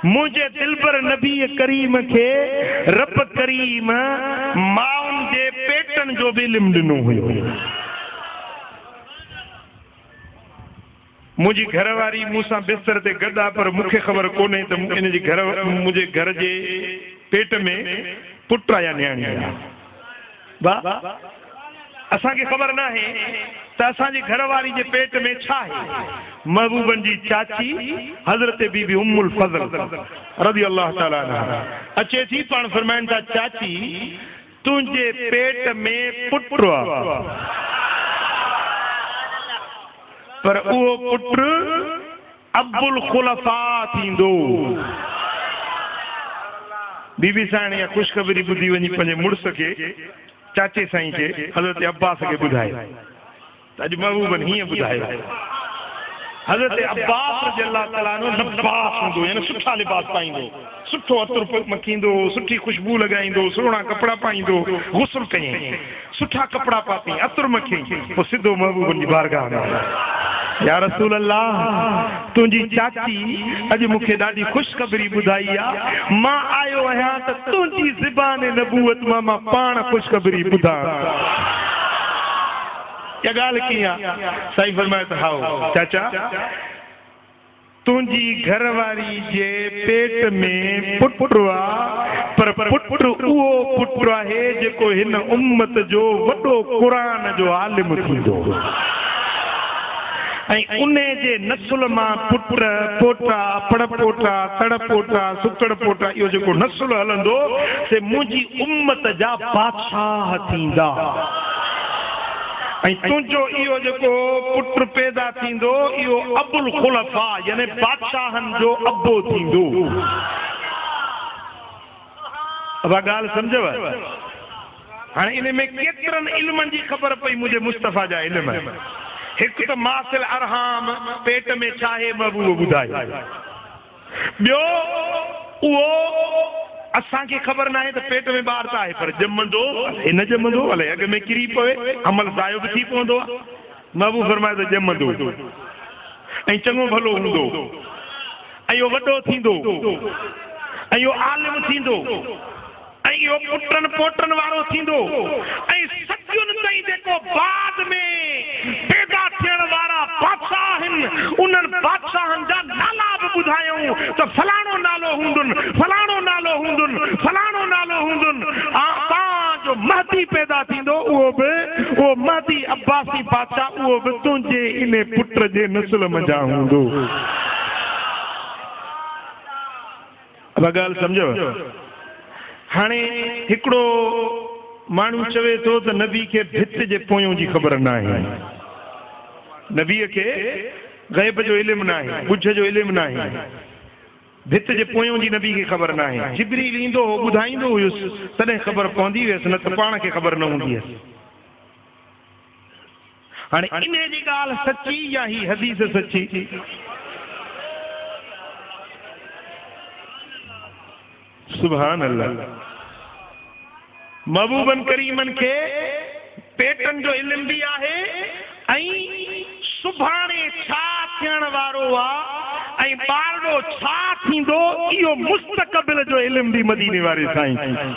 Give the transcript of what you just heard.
منهنجي دلبر نبيء ڪريم کي رب ڪريم مائن جي پيٽن جو به علم ڏنو هيو. منهنجي گهر واري مون سان بستر تي گڏ آ پر مون کي خبر ڪونهي ته ان جي گهر منهنجي گهر جي پيٽ ۾ پٽ آ يا نياڻي آ. واھ اسان کي خبر ناهي ته اسان جي گهر واري جي پيٽ ۾ ڇا آهي. محبوبن جي چاچي حضرت بي بي ام الفضل رضي الله تعالٰي عنها اچي ٿي پاڻ فرمائن ٿا چاچي تنهنجي پيٽ ۾ پٽ آ پر اهو پٽ ابوالخلفاء ٿيندو. بي بي سائڻ اها خوشخبري ٻڌي وڃي پنهنجي مڙس کي، چاچي سائين کي، حضرت عباس کي ٻڌائي ته اڄ محبوبن هيئن ٻڌايو. حضرت عباس رضي الله تعالٰي عنه لباس هوندو يعني سٺا لباس پائيندو. سٺو عطر مکيندو هو، سٺي خوشبو لڳائيندو، سهڻا ڪپڙا پائيندو، غسل ڪيائين، سٺا ڪپڙا پاتائين، عطر مکيائين، پوء سڌو محبوبن جي بارگاهه ۾ آيو، يا رسول الله! تنهنجي چاچي اڄ مون کي ڏاڍي خوشخبري ٻڌائي آ، مان آيو آهيان ته تنهنجي زبان نبوت مان مان پاڻ خوشخبري ٻڌان. اها ڳالهه ڪيئن آ؟ سائين فرمايو ته هائو، چاچا! تنهنجي گهر واري جي پيٽ ۾ پٽ آ پر پٽ اهو پٽ آهي جيڪو هن امت جو وڏو قرآن جو عالم ٿيندو ۽ انهي جي نسل مان پٽ، پوٽا، پڙپوٽا، تڙپوٽا، سڪڙپوٽا اهو جيڪو نسل هلندو سي منهنجي امت جا بادشاهه ٿيندا. ۽ تنهنجو اهو جيڪو پٽ پيدا ٿيندو، اهو ابوالخلفاء يعني بادشاهن جو ابو ٿيندو. اها ڳالهه سمجهيو؟ هاڻي ان ۾ ڪيترن علمن جي خبر پئي منهنجي مصطفيٰ جا علم. هڪ ته ماء في الارحام، پيٽ ۾ ڇا هي، مبوء ٻڌائي. ٻيو اهو اسان کي خبر ناهي ته پيٽ ۾ ٻار ته آهي پر ڄمندو الائي نه ڄمندو الائي اڳ ۾ ڪري پوي حمل ضايع به ٿي پوندو آهي محبوب فرمايو ته ڄمندو ۽ چڱو ڀلو هوندو ۽ اهو وڏو ٿيندو ۽ اهو عالم ٿيندو. ۽ اهو پٽن پوٽن وارو ٿيندو ۽ صدين تائين جيڪو بعد ۾ پيدا ٿيڻ وارا بادشاهه آهن انهن بادشاهن جا نالا به ٻڌايائون ته فلاڻو نالو هوندن فلاڻو نالو هوندن فلاڻو نالو هوندن تان جو مهدي پيدا ٿيندو اهو به اهو مهدي عباسي بادشاهه اهو به تنهنجي انهي پٽ جي نسل منجهان هوندو. اها ڳالهه سمجهيو؟ هاڻي هڪڙو ماڻهو چوي ٿو ته نبي کي ڀت جي پويون جي خبر ناهي. نبي کي غيب جو علم ناهي، ڳجهه جو علم ناهي. ڀت جي پويون جي نبي کي خبر ناهي. جبريل ايندو هو، ٻڌائيندو هيس، تڏهن خبر پوندي هيس، نه ته پاڻ کي خبر نه هوندي هيس. هاڻي انهي جي ڳالهه سچي يا هي حديث سچي؟ سبحان الله محبوبن ڪريمن کي پيٽن جو علم به آهي ۽ سڀاڻي ڇا ٿيڻ وارو آ ۽ ٻارڙو ڇا ٿيندو اهو مستقبل جو علم به مديني واري سائين